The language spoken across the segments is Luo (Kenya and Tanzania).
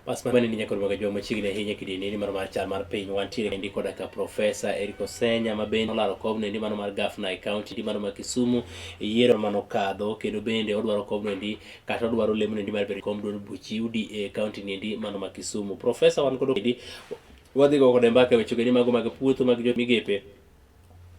Bas mano ni nyakoni waga joma chiegni ahinya kidini ni mano mar chal mar piny wantiere endi koda ka Profesa Eric Osenya ma bende olaro kobno endi mano mar gafna e kaunti endi mano ma Kisumu e yiero mano kadho kendo bende odwaro kobno endi kata odwaro lemno endi mar bedo kom duond buch UDA e kaunti ni endi mano ma Kisumu. Profesa wan kodo endi wadhi go kode mbaka e weche endi mago mag puotho mag jo migepe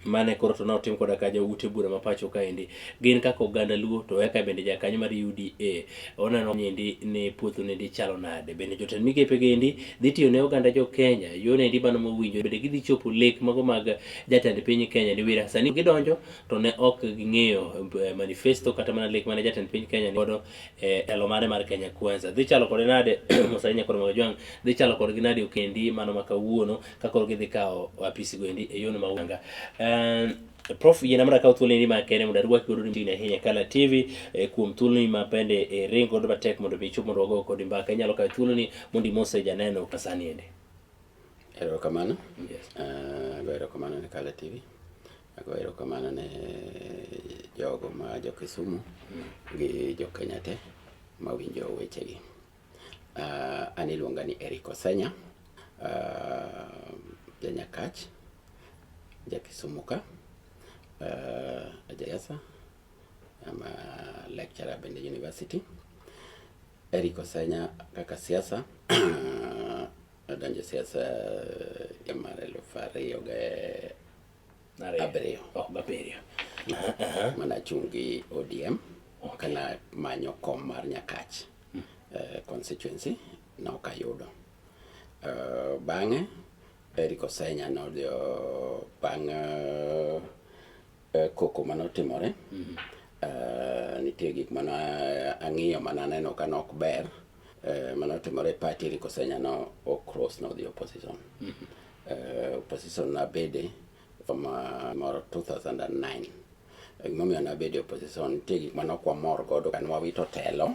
mane koro to notim koda ka joute bura ma pacho kaendi gin kaka oganda luo to eka bende jakanyo mar UDA oneno niendi ni puothu niendi chalo nade bende jotend migepe gendi dhi tiyo ne oganda jo Kenya yo nendi mano mowinjo bende gidhi chopo lek mago mag jatend piny Kenya ni wira sani gidonjo to ne ok ging'eyo eh, manifesto kata mana lek mane jatend piny Kenya ni godo eh, telo mare mar Kenya Kwanza dhi chalo kode nade Musalia Nyakoro Magajwang' dhi chalo kodgi nade okendi mano ma kawuono kakoro gidhi kawo apisi goendi e yono maunga um, prof yie namra kawo thuolo ni makende mondo arwaki godo ni ahinya kala tv eh, kuom thuolo ni ma bende eh, ring godo matek mondo mi ichop mondo wago kodi mbaka inyalo kawo thuolo ni mondo imose janeno kasani ende erokamano yes. uh, go erokamano ne kala tv ago erokamano ne jogo ma jo kisumu mm. gi jo kenya te mawinjo wechegi Uh, an iluonga ni Eric Osenya, uh, janyakach, jakisumu ka, uh, ajayasa, I'm a lecturer Bende University. Eric Osenya kaka siasa adonjo siasa ya mar elfu ariyo ga abiriyo oh, abiriyo mana achung' gi ODM kana manyo kom mar Nyakach uh, constituency nok ayudo uh, bang'e Eric Osenya nodhi bang' uh, uh, koko manotimore mm -hmm. uh, nitie gik mana ang'iyo mana neno ka nok ber uh, manotimore party Eric Osenya no o cross nodhi opposition mm -hmm. uh, opposition nabede from uh, moro 2009 gimomiyo nabedo opposition nitie gik mane ok wamor godo ka nwawito telo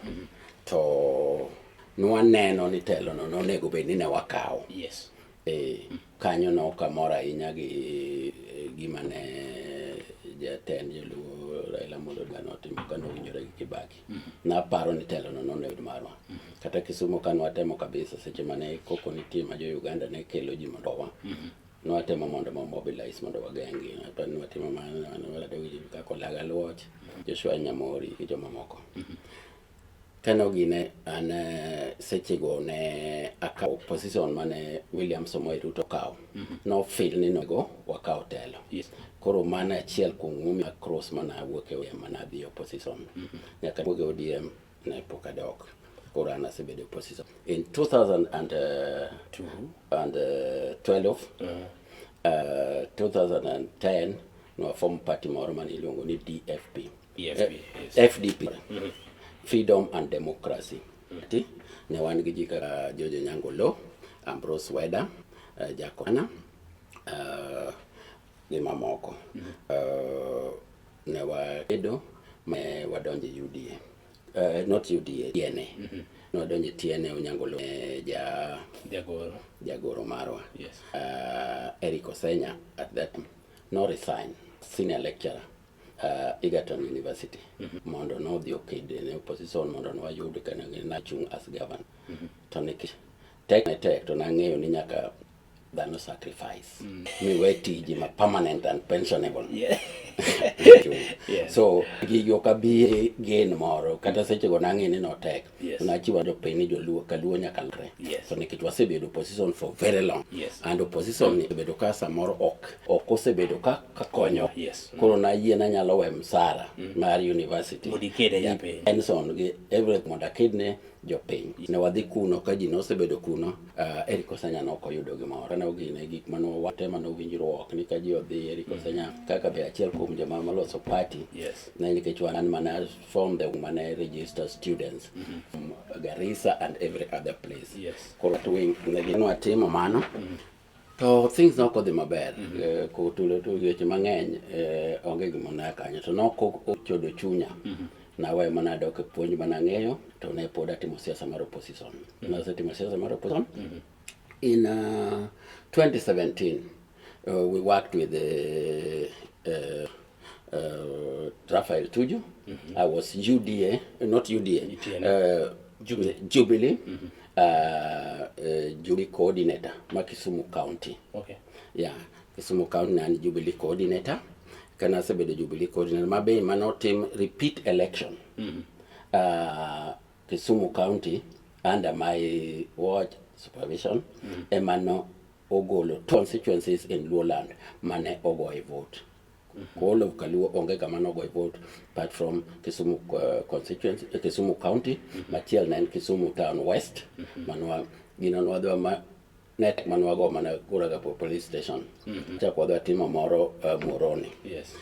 to nwaneno ni telono nonego bed ni ne wakawo yes. e, kanyo no ok amor ahinya gi e, gima ne jatend joluo Raila Amolo Odinga notimo ka nowinjore gi Kibaki naparo ni telono nonego bed marwa kata Kisumo ka nwatemo kabisa seche mane koko nitie ma jo Uganda ne kelo ji mondo owa Nwatemo mondo mo mobilize mondo wageng'gi. Aparo ni watimo mano ne wala Daudi kaka Olaga Luoch, Joshua Nyamori gi jomamoko. Kano gine an eh, sechego ne akawo position mane William Samoei Ruto okawo. Nofil ni nego wakaw telo. Yes. Koro mano achiel kuom gimomiyo cross mana awuok e ODM mana adhi opposition. Nyaka awuog e ODM ne pok adok. Koro an asebedo e opposition. In 2002 and uh, 12 uh, uh, 2010 nowafomo party moro mane iluongo ni dfp EFP, Eh, yes. fdp freedom and democracy Ti, ne wan gi ji kaka jojo nyango lo ambrose weda uh, jakona uh, gi mamoko uh, ne wakedo ma wadonjo e uda Uh, not UDA, TNA. Mm -hmm. Nodonje TNA Onyango Lum, eh, ja, Jagoro. Jagoro Marwa. Yes. Uh, Eric Osenya at that time, no resign, senior lecturer uh, Egerton University mm -hmm. mondo nodhi oked ne opposition mondo nwayud kanachung' as governor mm -hmm. to nikech tek ne tek to nang'eyo ni nyaka dhano sacrifice mm. miwe tiji ma permanent and pensionable yeah. yeah. so gigi ok abi gen moro kata mm. sechego nang'e ni notek yes. nachiwa jopiny ni joluo kaluo nyaka lre yes. so nikech wasebedo opposition for very long yes. and opposition ni obedo ka samoro ok ok osebedo ka, ka konyo yes. mm. koro nayie nanyalo we msara mm. mar university pension gi everything mondo akidne jopiny. Ne wadhi kuno ka ji nosebedo kuno, uh, Eric Osanya ne ok oyudo gimoro. Ne ogine gik mane wate mane owinjruok ni ka ji odhi Eric mm. Osanya mm. kaka be achiel kuom joma maloso party. Yes. Ne nikech wan mana from the mane register students mm -hmm. from Garissa and every other place. Yes. Koro twing ne gino atimo mano. Mm -hmm. to things noko dhi maber mm -hmm. eh, kotulo to weche mang'eny eh, onge gima naya kanyo to noko ochodo chunya mm -hmm. nawe mana dok e puonj mana ng'eyo to ne pod atimo siasa mar opposition mm -hmm. nasetimo siasa mar opposition mm -hmm. in uh, 2017 uh, we worked with the uh, uh, Raphael Tuju. Mm -hmm. I was UDA, not UDA, uh, Jubilee, Jubilee mm -hmm. uh, uh, Jubilee coordinator, Makisumu County. Okay. Yeah, Kisumu County and Jubilee coordinator. Kana sebedo Jubilee coordinator. Mabe mano team repeat election. Mm -hmm. uh, Kisumu County under my watch supervision mm -hmm. emano ogolo constituencies in Luoland mane ogoye vote. All of Kaluo onge kama nogoye vote apart from Kisumu uh, constituency, uh, Kisumu County mm -hmm. machiel na en Kisumu Town West mm -hmm. manwa gino nwadwa ma net manwago mana kuraga po police station mm -hmm. chak wadwa timo moro uh, Moroni yes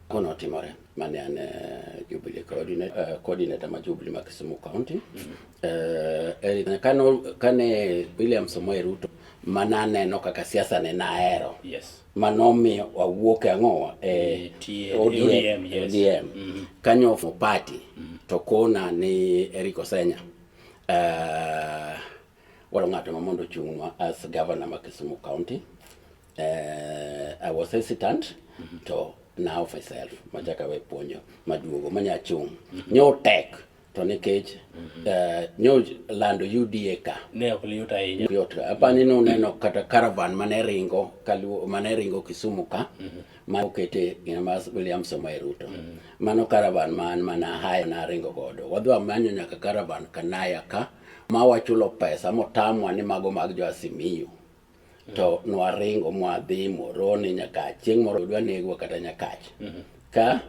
kono otimore mane an uh, Jubilee coordinator, uh, coordinator ma Jubilee ma Kisumu County mm -hmm. uh, kano, kane William Samoei Ruto mana aneno kaka siasa ne nahero yes ma nomiyo wawuok e ang'owa e ODM, ODM. Mm-hmm. kanyo ofo party mm-hmm. to kona ni Eric Osenya uh, walo ng'ato ma mondo ochung'nwa as governor ma Kisumu County uh, I was hesitant mm -hmm. to now myself machaka we puonjo maduogo manya chung' mm -hmm. nyotek to nikech eh, nyo lando UDA ka Ne ok liyot ahinya. yot apani ni uneno kata caravan mane ringo kaluo mane ringo Kisumu ka ma okete gina ma William Samoei Ruto mano caravan man mana haya na ringo godo wadwa manyo nyaka caravan kanaya ka ma wachulo pesa motamwa ni mago mag jo Asimiyu to nwaringo mwadhi Moroni, Nyakach. Chieng' moro dwa negwa kata Nyakach ka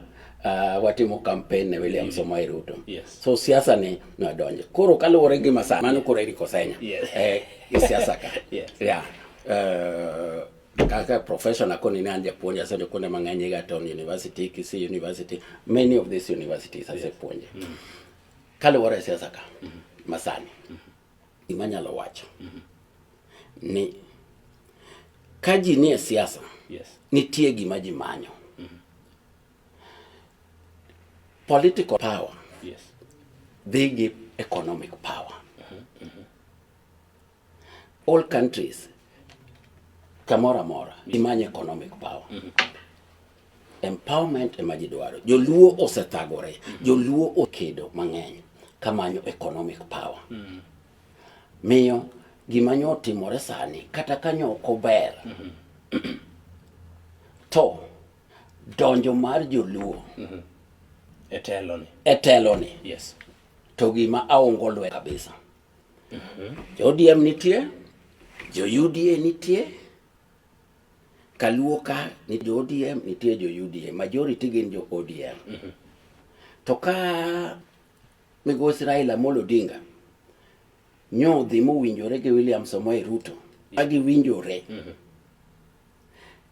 uh, watimo campaign ne William Samoei Ruto. Yes. So siasa ni nwadonje. Koro kaluwore gi masaa mano koro Eric Osenya Yes. eh, gi siasa ka. Yes. Yeah. Uh, kaka profession akoni ne an japuonj asedo kuonde mang'eny Egerton University, Kisii University, many of these universities asepuonje. Kaluwore siasa ka masani. Gima anyalo wacho ni ka ji nie siasa, Yes. nitie gima ji manyo. Political power Yes. dhi gi economic power. All countries kamoro amora imanyo economic power. Empowerment ema ji dwaro. Joluo osethagore, joluo okedo mang'eny kamanyo economic power. Mm. Miyo gima nyo otimore sani kata kanyo ok ober mm-hmm. to donjo mar joluo mm-hmm. eteloni eteloni yes. to gima aongo lwe kabisa mm-hmm. jo ODM nitie jo UDA nitie Kaluo ka ni jo ODM nitie jo UDA, majority gin jo ODM. Mm -hmm. To ka migosi Raila Amolo Odinga nyodhi mowinjore gi William Samoei Ruto ka giwinjore mm -hmm.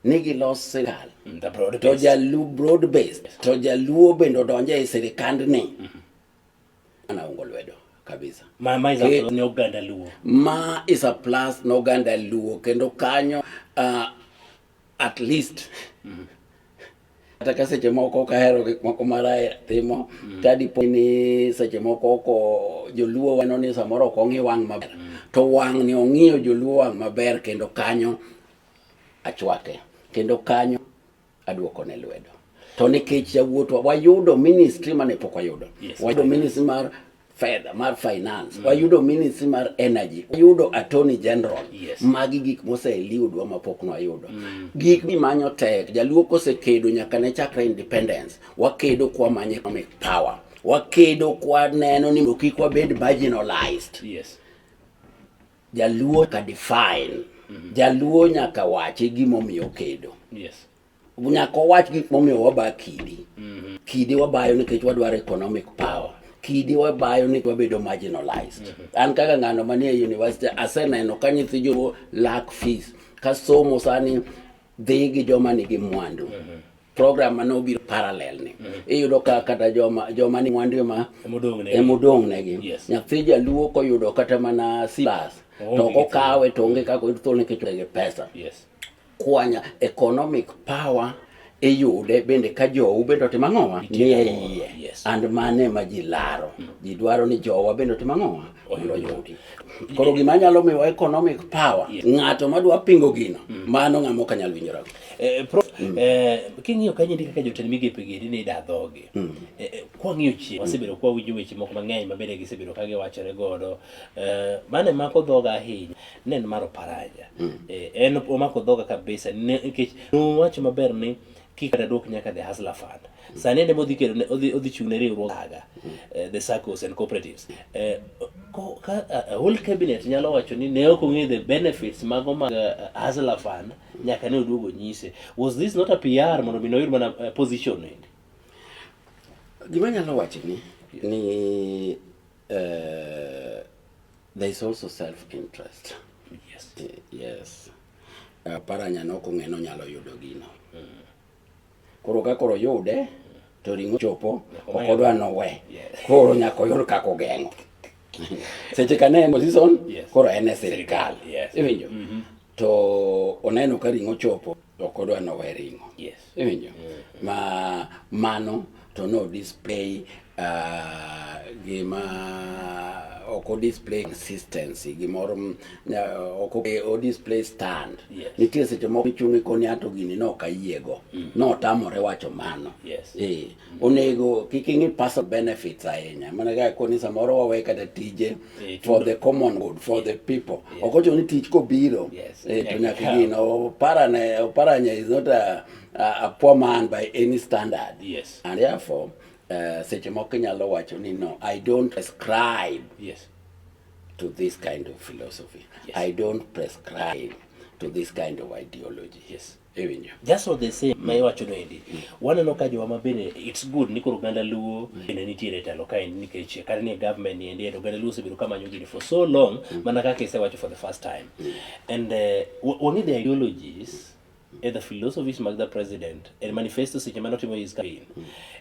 ni gilos sirkal mm, to jaluo broad based to jaluo bende odonje e sirikandni mm -hmm. Anaongo lwedo kabisa. Ma, ma is a plus ne oganda Luo. Ma is a plus ne oganda Luo kendo kanyo uh, at least mm -hmm kata ka seche moko ok ahero gik moko maraya timo mm. tadipo ni seche moko oko joluo weno ni samoro ok ong'i wang' maber mm. to wang' ni ong'iyo joluo wang' maber kendo kanyo achwake kendo kanyo Adwoko ne lwedo. To nikech yawuotwa wayudo ministry mane pok wayudo. Yes, wayudo ministry mar fedha mar finance mm. wayudo ministry mar energy wayudo attorney general yes. magi gik moseliudwa mapok nwayudo mm. gik mimanyo tek jaluo kosekedo nyaka ne chakre independence wakedo kwa manyo economic power wakedo kwa neno ni kik wabed marginalized yes. Jaluo ka define. Mm -hmm. Jaluo nyaka wache gimomiyo kedo. Yes. Nyaka wach gik momiyo waba kidi. Mm -hmm. Kidi wabayo nikech wadwaro economic power. kidi wabayo ni wabedo marginalized. Mm -hmm. An kaka ng'ano manie university aseneno ka nyithi joluo lack fees. Kasomo sani dhi gi joma nigi mwandu mm -hmm. program ma nobiro parallel ni mm -hmm. iyudo ka kata joma joma ni mwandu ema emodong negi yes. nyathi jaluo koyudo kata mana silas oh, to okawe to onge kaka oyudo thuolo nikech gi pesa yes. kwanya economic power iyude bende ka jowu bende otim ang'owa nie iye yes. and mane ma ji laro mm. ji dwaro ni jowa bende otim ang'owa oyudo yuti. Koro gima nyalo miwa economic power yes. Ng'ato madwa pingo gino mm. mano ng'ama ok anyal winjora. Eh, pro, mm. eh, king'iyo kanyo ndi kaka jotend migepe gi ni da dhoge. Mm. Eh, eh kwa ng'iyo chi mm. wasebedo kwa winjo weche moko mang'eny mabede gisebedo ka giwachore godo. Eh, mane mako dhoga ahinya ne en maro paraja. Mm. Eh, en omako dhoga kabisa nikech nowacho maber ni kik kata duok nyaka the hustler fund sani ende modhi kedo odhi odhi chung ne riwruok aga eh, the circles and cooperatives eh, ko ka a whole cabinet nyalo wacho ni ne ok ong'e the benefits mago mag eh, hustler fund nyaka ne oduogo nyise was this not a PR mondo mi noyud mana eh, position endi gima nyalo wacho ni ni eh, There is also self interest. Yes. Eh, yes. Uh, paranya no kong'e no nyalo yudo gino. Mm. Koro ka koro yude to ringo chopo ok odwa no we. Koro nyaka oyud kaka ogeng'o. Seche ka ne en season koro en e sirkal. Iwinjo? Mm-hmm. To oneno ka ringo chopo ok odwa ni owe ring'o. Iwinjo? Ma mano to no display ah, gima ok o display consistency gimoro mm, na- ok o- eh, o display stand. Yes. Nitie seche moko ichung' ikoni ato gini ne ok ayiego. Notamore wacho mano. Yes. Eh, onego kik ing'i personal benefits ahinya mana kaka koni samoro wawe kata tije eh, for the common good for eh, the people eh. ok ochuno ni tich kobiro to nyaka gin oparane oparanya is not a, a, poor man by any standard yes. and therefore uh, seche moko inyalo wacho ni no i don't prescribe yes. to this kind of philosophy yes. i don't prescribe to this kind of ideology yes. iwinjo just of the same ma iwacho no endi mm. waneno ka jowa ma bende it's good ni koro oganda luo mm. bende nitiere telo ka en nikech kare ni government ni endi oganda luo osebedo ka manyo gini for so long mm. mana kaka isewacho for the first time and uh, wang'e the ideologies e the philosophies mag the president and manifesto seche mane otimo his campaign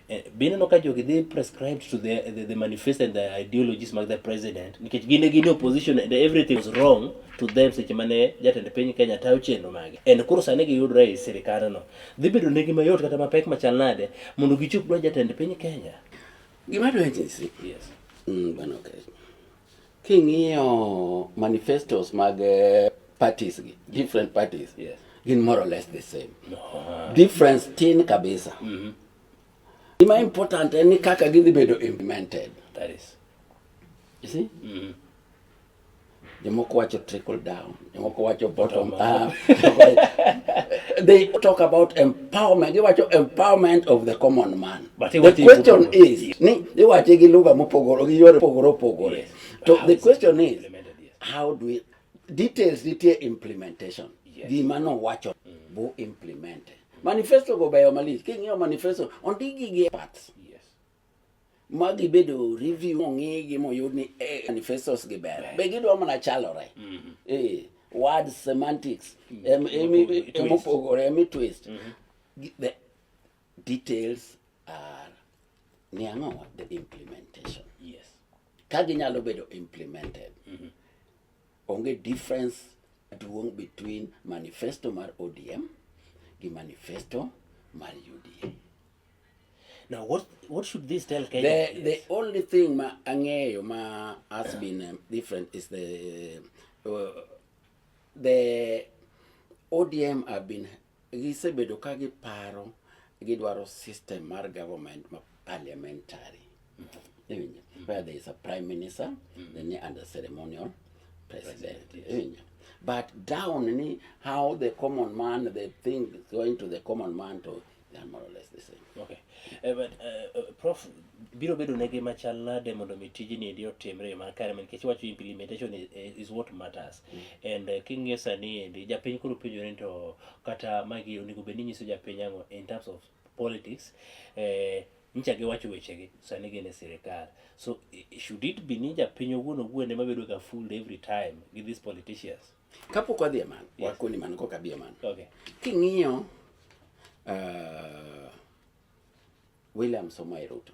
eh, be ineno ka jogi dhi prescribed to the, the, the manifesto and the ideologies mag the president nikech gin e gin opposition and everything was wrong to them seche mane jatend piny Kenya tayo chenro mage and koro sani giyudre e sirikandno dhi bedo negi mayot kata mapek machal nade mondo gichop dwa jatend piny Kenya gima dwaje si yes mm, bana okay king'iyo manifestos mag eh, parties gi different parties yes gin more or less the same no. difference tin kabisa mm -hmm. gima important en ni kaka gidhi bedo implemented that is you see mm -hmm. Jomoko wacho trickle down, jomoko wacho bottom up. they talk about empowerment. They wacho empowerment of the common man. But the question is, ni they wacho gi lugha mopogore gi yore pogore opogore. So the question is, how do we details nitie implementation. Yes. Gima no wacho mm. bu implemented. Manifesto go beyo malich. King'iyo manifesto ondigi gi parts. Yes. ma gibedo review ong'igi moyud ni eh, manifestos gi ber be gidwa mana chalore mm-hmm. eh, word semantics mm-hmm. emopogore emi twist mm-hmm. the details are ni ang'o the implementation yes ka ginyalo bedo implemented Onge difference duong' between manifesto mar ODM gi manifesto mar UDA. Now what what should this tell Kenya? The, yes. the only thing ma angeyo ma has been um, different is the uh, the ODM have been Gisebedo ka giparo gidwaro system mar government ma parliamentary. Iwinjo? Where there is a prime minister, then ni under ceremonial president. Iwinjo? But down ni how the common man, the thing going to the common man to they are more or less the same. Okay. Eh, but, eh, eh, Prof, biro bedo negi machal nade mondo mi tijni endi otimre e yo makare nikech wacho implementation is, is what matters. and uh, king'iyo sani endi japiny koro penjore ni to kata magi onego bed ni nyiso japiny ang'o in terms of politics eh, nyicha giwacho wechegi sani gin e sirikal so i- should it be ni japiny owuon owuon ema bedo ga fooled every time with these politicians kapok wadhi e mano Yes. wakoni mano koka bi e mano okay king'iyo uh, william somoe ruto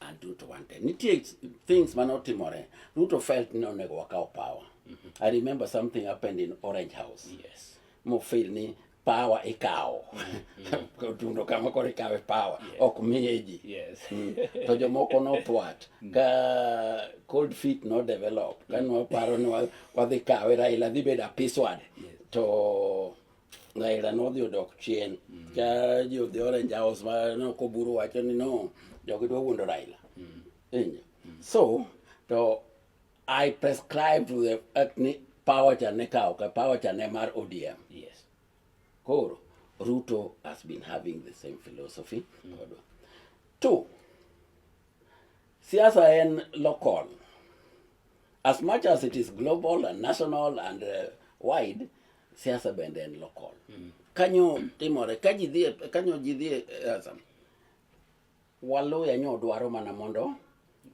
and Ruto wanted. Nitie things mane otimore. Ruto felt ni onego wakaw power. Mm -hmm. I remember something happened in Orange House. Yes. Mo feel ni power ikawo. Mm -hmm. Tundo kama kore ikawe power. Yes. Ok miyeji. Yes. mm. To jomoko no twat. Mm. Ka cold feet no develop. Ka nwa paro ni wadhi kawe Raila dhi beda piswad. Yes. To Raila nodhi odok chien mm. ka jo the orange house ma nokoburu wacho ni no jogi dwa wuondo Raila mm. injo mm. so to I prescribe to the fact ni power cha ne kawo ka power cha ne mar ODM yes koro Ruto has been having the same philosophy mm. kodwa two siasa en local as much as it is global and national and uh, wide Siasa bende en local. Mm. Kanyo timore ka ji dhie kanyo ji dhie siasa. Waluya nyo dwaro mana mondo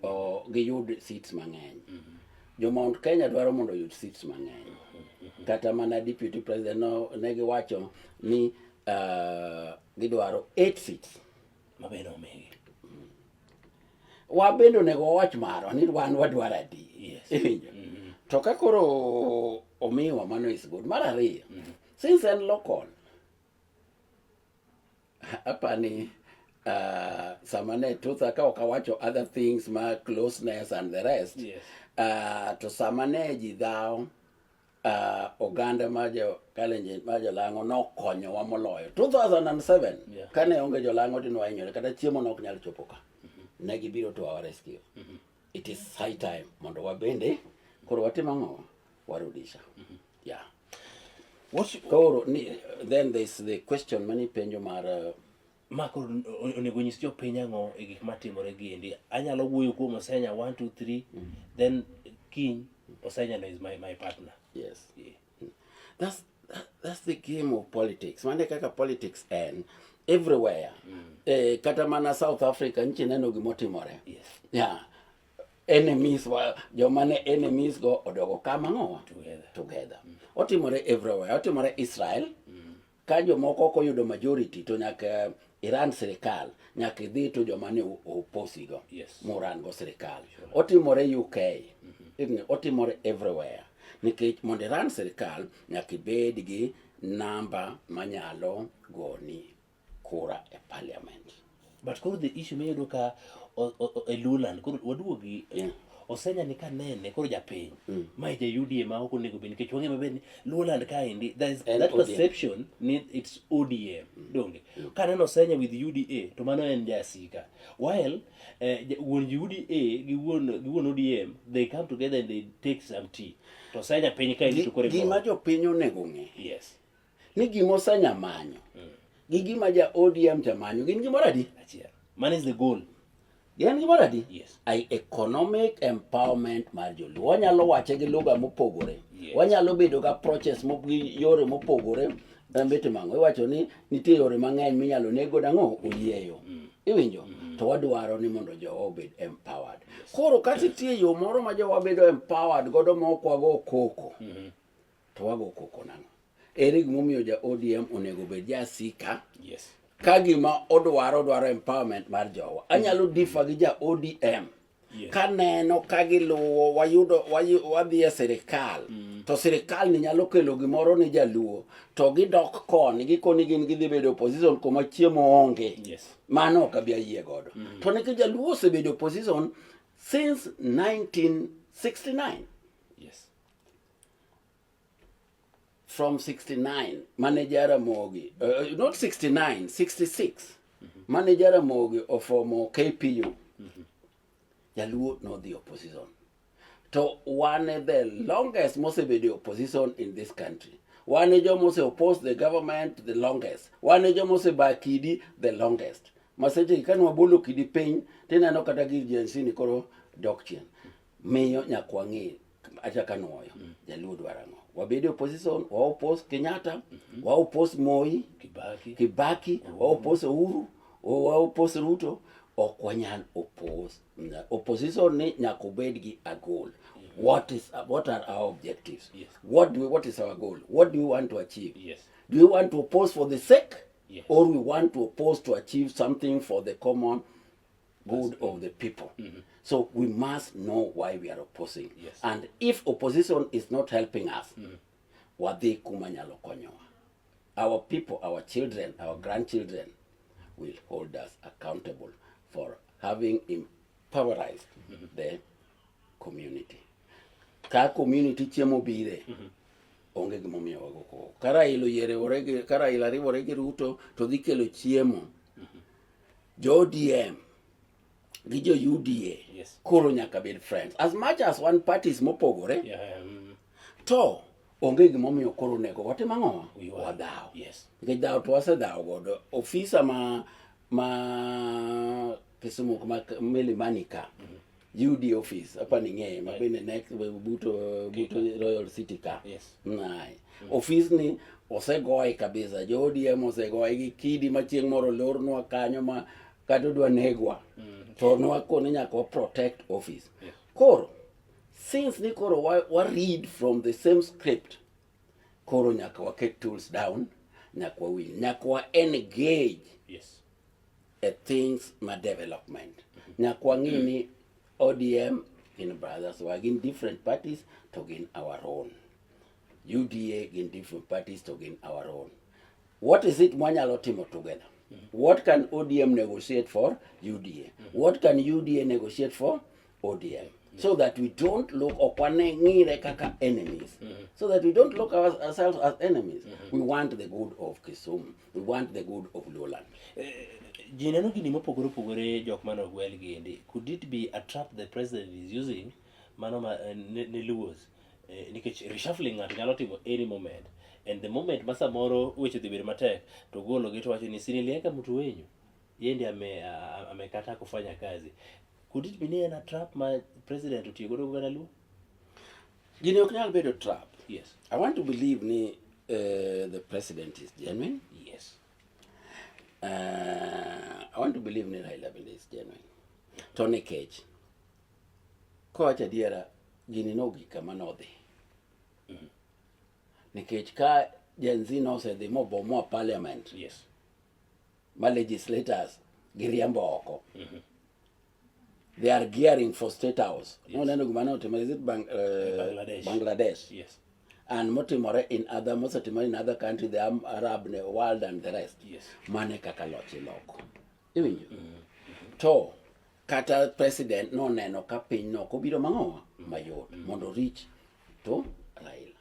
o, giyud seats mang'eny. Mm -hmm. Jo Mount Kenya dwaro mondo oyud seats mang'eny. Mm -hmm. Kata mana deputy president no, ne giwacho ni uh, gidwaro 8 seats. Mm -hmm. mabende omigi wan bende onego wawach marwa ni wan wadwaro adi iwinjo mm-hmm. to ka koro omiwa mano is good mar ariyo mm-hmm. since en local apani uh, sama ne tutha ka ok awacho other things ma closeness and the rest yes. uh, to sama ne ji dhawo uh, oganda ma jo Kalenjin ma jolang'o nokonyowa moloyo 2007 yeah. kane onge jolang'o dine wahinyore kata chiemo ne ok nyal chopo ka mm -hmm. ne gibiro to our rescue mm -hmm. it is high time mondo wabende koro watim ang'o warudisha mm -hmm. yeah What's, koro ni, then there is the question mani penjo mar uh, ma koro onego nyis jopiny ang'o e gik matimore gi endi anyalo wuoyo kuom osenya one two three mm. then king osenya no is my, my partner yes yeah. that's, that, that's the game of politics mane kaka politics en everywhere mm. eh, kata mana south africa nchi neno gimotimore yes. yeah. enemies wa joma ne enemies go odogo kama ng'owa together, together. Mm. otimore everywhere otimore israel mm. Ka jomoko ok oyudo majority to nyaka Iran sirikal nyaka idhi to joma ne oposigo yes. muran go sirikal sure. Otimore UK mm -hmm. otimore everywhere nikech mondo Iran sirikal nyaka ibed gi namba manyalo goni kura e parliament. but koro the issue miyudo ka e luland koro waduogi yeah. osenya ni kanene koro japiny mm. ma ja UDA ma ok onego bed nikech wang'e maber ni Luoland kaendi there is that ODM. perception ni it's ODM mm. donge mm. kaneno osenya with UDA to mano en jasika while eh, wuon UDA gi wuon gi wuon ODM they come together and they take some tea to osenya piny kaendi to koro gima jopiny onego ng'e yes ni gima osenya manyo gi gima ja ODM jamanyo gin gimoro adi? Man is the goal. Gin gimoro adi? Yes. I economic empowerment mar joluo. Wanyalo wache gi lugha mopogore. Yes. Wanyalo bedo ga approaches gi yore mopogore. Mbete mango iwacho ni nitie yore mang'eny minyalo nego dang'o oyieyo. Mm. Iwinjo? Mm. to wadwaro ni mondo jowa obed empowered. Koro kata nitie yo moro ma jowa bedo empowered godo ma ok wago koko, mm-hmm. To wago koko nang'o? Ere gimomiyo ja ODM onego bed jasika? Yes. Ka gima odwaro dwaro empowerment mar jowa. Anyalo mm. differ gi ja ODM. Yes. Ka neno ka giluwo wayudo wadhi e sirikal mm. to sirikal ni nyalo kelo gimoro ni jaluo to gidok koni gikoni gin gidhi bedo opposition kuma chiemo onge yes. mano ok abi ayie godo mm. to nikech jaluo osebedo opposition since 1969 from 69 mane Jaramogi uh, not 69 66 mm -hmm. mane Jaramogi ofomo KPU mm -hmm. Jaluo no the opposition to one the longest mosebedi opposition in this country wane joma ose oppose the government the longest wane joma ose ba kidi the longest maseche ka nwabolo kidi piny tineno kata gir jensini koro dok chien miyo nyakwang'e acha kanoyo mm. jaluo dwaro ang'o wabedi opposition waopos kenyatta mm -hmm. waopos moi kibaki, kibaki mm -hmm. waopos uhuru waopos ruto ok wanyal opos opposition ni nyaka obed gi a goal mm -hmm. what is what are our objectives yes. what do we, what is our goal what do we want to achieve yes. do we want to oppose for the sake yes. or we want to oppose to achieve something for the common good of the people. Mm -hmm. So we must know why we are opposing. Yes. And if opposition is not helping us, mm -hmm. wadhi kuma nyalo konyowa. Our people, our children, our grandchildren will hold us accountable for having empowerized mm -hmm. the community. Ka community chiemo bire, mm -hmm. onge gimomiyo wago koko. Kara ilo yere orege, kara ilo ariwore gi Ruto to dhi kelo chiemo. Mm -hmm. Jo ODM gi jo UDA yes. koro nyaka bed friends as much as one parties mopogore yeah, um, to onge gimomiyo koro onego watim ang'o wadhaw yes. nikech dhaw to wasedhaw godo ofisa ma ma Kisumu ma Milimani ka mm -hmm. UD office hapa ni ng'eye mabende next buto buto Royal City ka yes. Nae mm. office ni osegoye kabisa jo ODM osegoye gi kidi ma chieng' moro lornwa kanyo ma kata odwa negwa mm. to nwakone nyaka wa protect office yes. Koro since ni koro wa, wa read from the same script koro nyaka waket tools down nyaka wawinj nyaka wa engage yes. a things ma development nyaka wang'e ni ODM gin brothers wa gin different parties to gin our own UDA gin different parties to gin our own what is it mwanyalo timo together what can ODM negotiate for UDA what can UDA negotiate for ODM so that we don't look okwaneng'ire kaka enemies mm -hmm. so that we don't look our, ourselves as enemies mm -hmm. we want the good of Kisumu we want the good of Luoland uh, eh, ji neno gini mopogore opogore jok mane ogwel gi endi could it be a trap the president is using mano ma, uh, ne, ne Luos uh, eh, nikech reshuffling ng'ato nyalo timo any moment and the moment ma samoro weche dhi bedo matek to golo gi to wacho ni sinilieka mtu wenyu yeye ndiye ame, amekataa kufanya kazi could it be near na trap ma president otiyo godo kugana luo gini ok nyal bedo trap yes i want to believe ni uh, the president is genuine yes uh, i want to believe ni raila bende is genuine to nikech kowacho adiera gini nogik kama nodhi mm -hmm. nikech ka jenzi nosedhi mobomoa parliament yes ma legislators giriembo oko mm -hmm. they are gearing for state house yes. noneno gima ne otimore is it Bang, uh, Bangladesh, Bangladesh. Yes. and motimore in other mosetimore in other country the Arab world and the rest yes. mane kaka loch iloko iwinjo mm -hmm. to kata president noneno ka piny no kobiro mang'owa mayot mm -hmm. mondo rich to Raila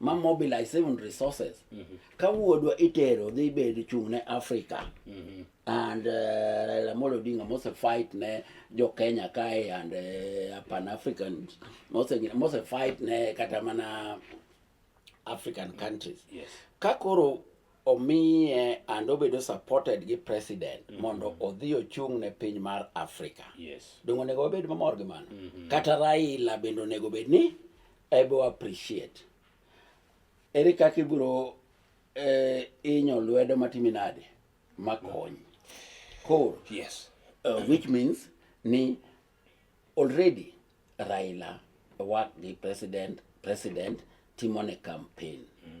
ma mobilize even resources mm -hmm. ka wuodwa itero dhi bed chung' ne Africa mm -hmm. and uh, Raila Amolo Odinga mose fight ne jo Kenya kae and uh, Pan African mose mose fight ne kata mana African countries yes. ka koro omiye and obedo supported gi president mm -hmm. mondo odhi ochung' ne piny mar Afrika. Yes. Dongo nego obed mamor gi mano. Mm -hmm. Kata Raila bende onego bed ni ebo appreciate. Ere kaka ibiro eh, inyo lwedo matimi nade makony. Koro. Yes. Uh, which means ni already Raila work gi president president timo ne campaign. Mm -hmm.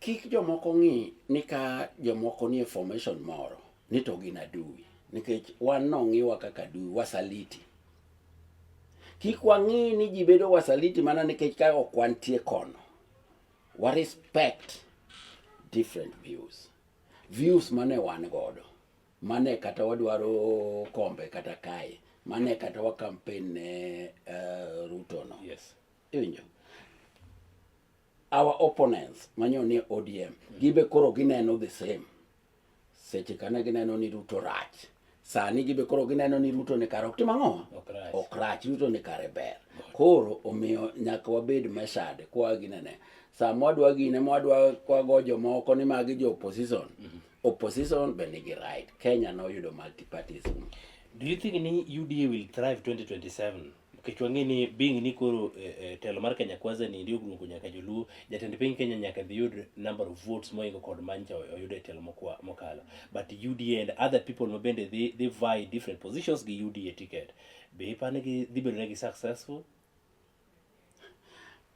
Kik jomoko ng'i ni ka jomoko nie formation moro ni to gin adui, nikech wan nong'iwa kaka adui, wasaliti. Kik wang'i ni ji bedo wasaliti mana nikech ka ok wantie kono. Wa respect different views. Views mane wan godo, mane kata wadwaro kombe kata kae, mane kata wa campaign ne uh, Ruto no. Yes. Iwinjo? our opponents manyo ni ODM gibe koro gineno the same seche kane gineno ni Ruto rach sani gibe koro gineno ni Ruto ni kare ok tim ang'o ok rach Ruto ni kare ber koro omiyo nyaka wabed meshade kwa ginene sama wadwa gine mwadwa kwago jomoko ni magi jo opposition mm -hmm. opposition be nigi right Kenya noyudo multipartism do you think ni UDA will thrive 2027 nikech wang'e ni being ni koro eh, eh, telo mar Kenya Kwanza ni ndio grungu nyaka joluo jatend piny Kenya nyaka dhi yud number of votes moingo kod mancha oyudo e telo mokwa- mokalo but UDA and other people ma bende dhi dhi vie different positions gi UDA ticket be ipani gi dhi bedo negi successful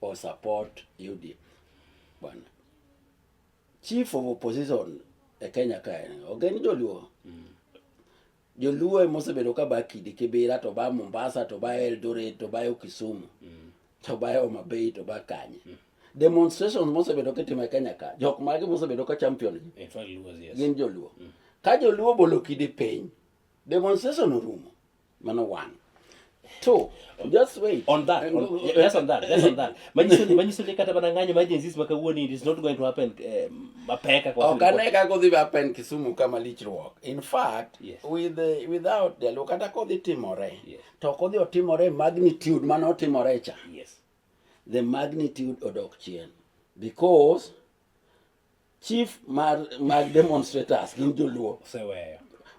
or support UDF. Bwana. Chief of opposition e Kenya kae ogeni joluo. Mm. Joluo emosebedo ka ba Kidi Kibira to ba Mombasa to ba Eldoret to ba Kisumu. Mm. To ba Homa Bay to ba Kanye. Mm. Demonstrations mosebedo kitimo e Kenya ka. Jok mage mosebedo ka champion gi. Gin joluo. Mm. Ka joluo bolo Kidi piny, demonstration orumo. mano one two just wait on that on, uh, yes on that yes on that manyiso ni manyiso ni kata bana ng'anyo emergencies maka wuoni it is not going to happen eh, mapeka kwa okay ne ka kodhi happen kisumu kama lichruok in fact yes. with the, without the look kata kodhi timore yes. to kodhi otimore magnitude mane otimore cha yes the magnitude odok chien because chief mar mag demonstrators gin joluo oseweyo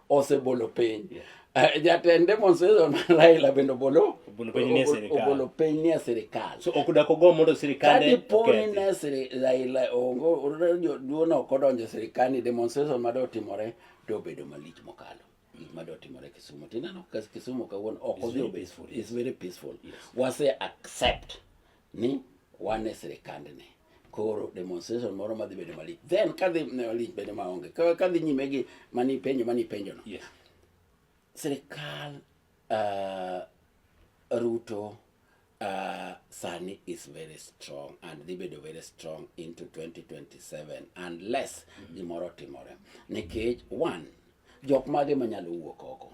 osebolo piny yeah. uh, jatend demonstration mar Raila bende obolo obolo piny nie sirikal obolo piny nie sirikal so ok dak ogo mondo sirikal kadi poni ne siri Raila ongo joluo no kodonjo sirikal ni demonstration ma do timore to obedo malich mokalo gik ma do timore Kisumu tinano Kisumu kawuono ok odhi is very peaceful yes. wase accept ni wane sirikand ni koro demonstration moro madhi bedo malich then kadhi malich bedo maonge kadhi nyime gi mani penjo mani penjo no yes. sirikal uh, Ruto uh, Sani is very strong and dhi bedo very strong into 2027 unless mm-hmm. gimoro timore nikech one jok mage manyalo wuok oko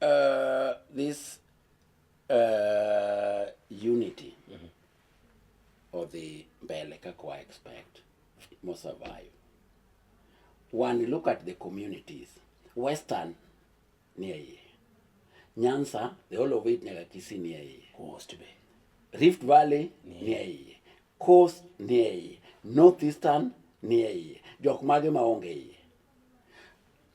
Uh, this uh, unity mm -hmm. or the mbele kako I expect mo survive when you look at the communities western near ye nyansa the whole of it nyaga kisi near ye coast bay rift valley near ye coast near ye northeastern near ye jok mage maonge ye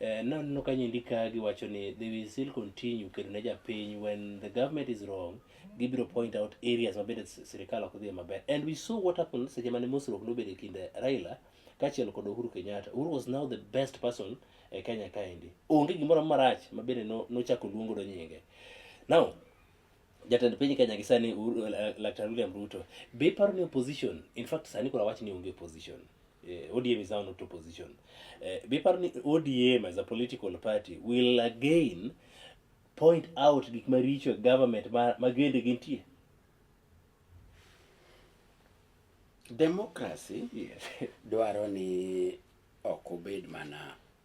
Eh, naneno ka nyindi ka giwacho ni they will still continue kedo ne japiny when the government is wrong gibiro point out areas mabende s- sirikal ok dhie maber and we saw what happened seche mane mosruok nobedo e kind raila kaachiel kod uhuru kenyatta uhuru was now the best person e kenya kaendi onge gimoro marach mabende no- nochako luongo do nyinge now Jatend piny Kenya gi sani eh, Laktar William Ruto be paro ni opposition in fact sani kuna wach ni onge opposition eh, ODM is now not opposition eh, be paro ni ODM as a political party will again point out gik maricho e government ma, ma gende gintie democracy yes. dwaro ni ok obed mana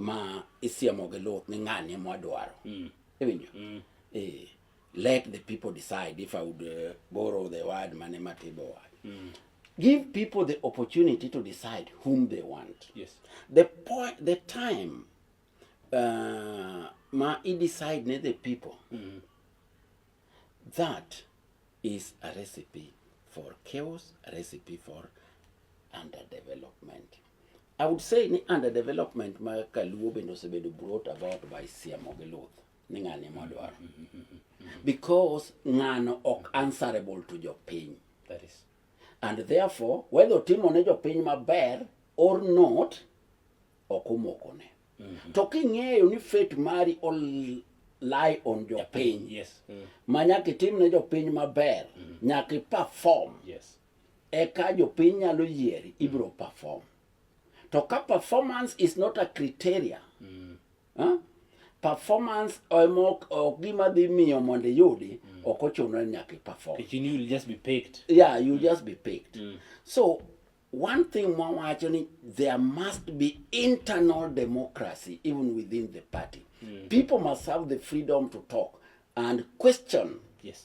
ma isiemo gi luth ni ng'ani ema wadwaro mm. iwinjo mm. eh, let the people decide if i would uh, borrow the word mane matibo word mm. give people the opportunity to decide whom they want yes. the point the time uh, ma i decide ne the people mm. that is a recipe for chaos a recipe for underdevelopment I would say ni under development ma Kaluo bende osebedo brought about by Siemo gi Luth ni ng'ani ema odwaro because ng'ano ok answerable to jopiny That is. and therefore whether otimo ne jopiny maber or not ok omokone to king'eyo ni fate mari ol lie on jopiny Yes. Mm. ma nyaka itim ne jopiny maber nyaka iperform Yes. eka jopiny nyalo yieri ibiro perform to ka performance is not a criteria mm. huh? performance emok ok gima dhi miyo mondo iyudi mm. ok ochuno ni nyaka iperform you'll just be picked yeah you'll mm. just be picked mm. so one thing mwawacho ni there must be internal democracy even within the party mm. people must have the freedom to talk and question yes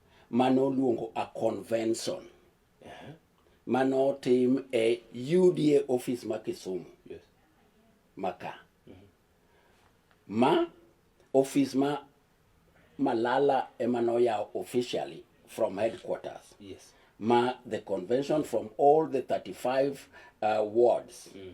mane oluongo a convention uh-huh. mane otim e UDA office ma Kisumu yes. maka mm -hmm. ma office ma Malala ema noyawo officially from headquarters yes. ma the convention from all the 35 uh, wards mm.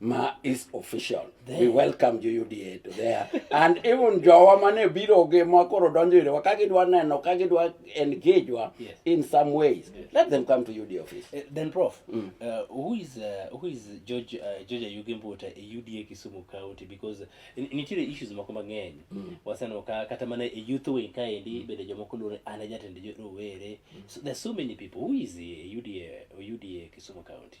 ma is official there. we welcome you UDA to there and even jowa mane biro gi ma koro donjo ire ka gidwa neno ka gidwa engage wa yes. in some ways yes. let them come to UDA office uh, then prof mm. uh, who is uh, who is George uh, George Ayugi Mbuta a UDA Kisumu County because nitiere issues moko mang'eny mm. waseno ka kata mana a youth wing ka endi mm. bende jomoko luore an ajatende rowere mm. so there's so many people who is a UDA UDA Kisumu County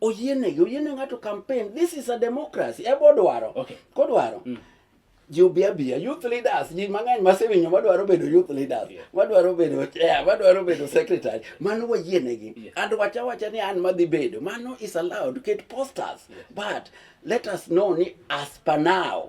oyienegi oyiene ng'ato campaign this is a democracy ebe odwaro okay. kodwaro mm. ji obi abiya youth leaders ji mang'eny masewinyo madwaro bedo youth leaders yeah. madwaro bedo chair madwaro bedo secretary mano wayienegi yeah. and wacha wacha ni an madhi bedo mano is allowed to get posters yeah. but let us know ni as per now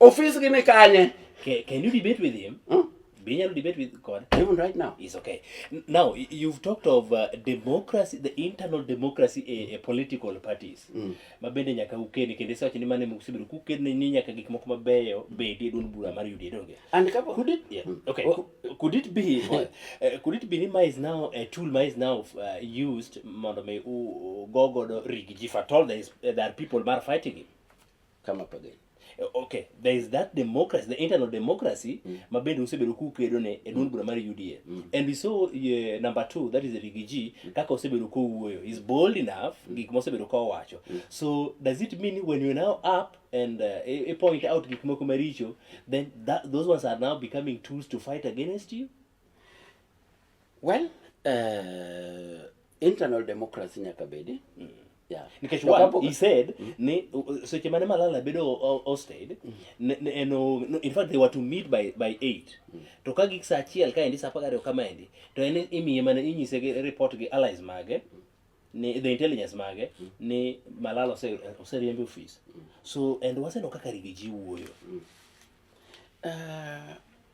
Ofis gi ni kanye? Can, can you debate with him? Hmm? Be you debate with God? Even right now. It's okay. Now, you've talked of uh, democracy, the internal democracy a, a political parties. Mm. Mabende nyaka ukeni kende sawacho ni mane mukusibiru kukeni ni nyaka gik moko mabeyo bedi e duond bura mar UDA donge. And kapo could it yeah. Mm. okay well, could it be uh, uh, could it be ni ma is now a tool ma is now uh, used mondo me u go godo rigi if at all there is uh, there are people mar fighting him. come up again eh, okay there is that democracy the internal democracy mm. ma bende usebedo kukedo ne e duond mm. bura mar UDA mm. and we saw uh, number 2 that is Rigiji mm. kaka osebedo kowuoyo is bold enough mm. gik mosebedo ka owacho mm. so does it mean when you now up and uh, e, e point out gik moko maricho then that, those ones are now becoming tools to fight against you Well, uh, internal democracy nyaka bedi. Mm. Yeah. Nikech one, he said, mm. ni, seche mane Malala bedo hosted, mm. ne, ne, no, no, in fact they were to meet by, by 8. Mm. To ka gik sa achiel ka endi sa apar gariyo kama endi, to en imiye mana inyise gi report gi allies mage, mm. ni the intelligence mage, mm. ni Malala ose, ose riembe office. Mm. So, and waseno kaka rigiji wuoyo. Mm. Uh,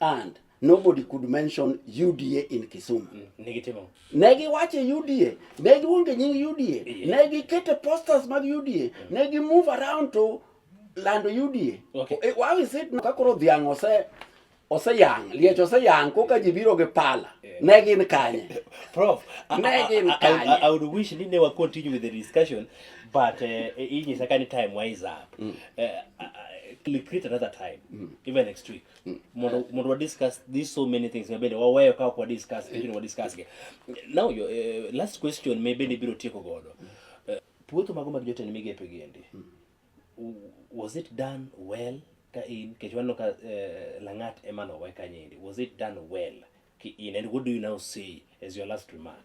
and nobody could mention UDA in Kisumu. Mm, negitimo. Negi wache UDA, negi wonge nying UDA, yeah. negi kete posters mag UDA, mm. negi move around to lando UDA. Okay. Eh, why is it ka koro dhiang' ose ose yang, liech ose yang koka ji biro gi pala. Yeah. Ne gin kanye. Prof, ne gin kanye. I, I, I, I would wish ni ne wakon continue with the discussion but eh, eh, iyi uh, second time wise up mm. uh, uh, create another time mm. even next week mm. mundu mundu wa discuss these so many things mebende waweyo kwa kwa discuss mm. lakini wa discuss ke now your uh, last question mebende biro tieko godo mm. uh, puotho mago mag jotend migepe giendi mm. was it done well ka in kech waneno ka uh, langat ema nowe kanyendi was it done well ki in and what do you now say as your last remark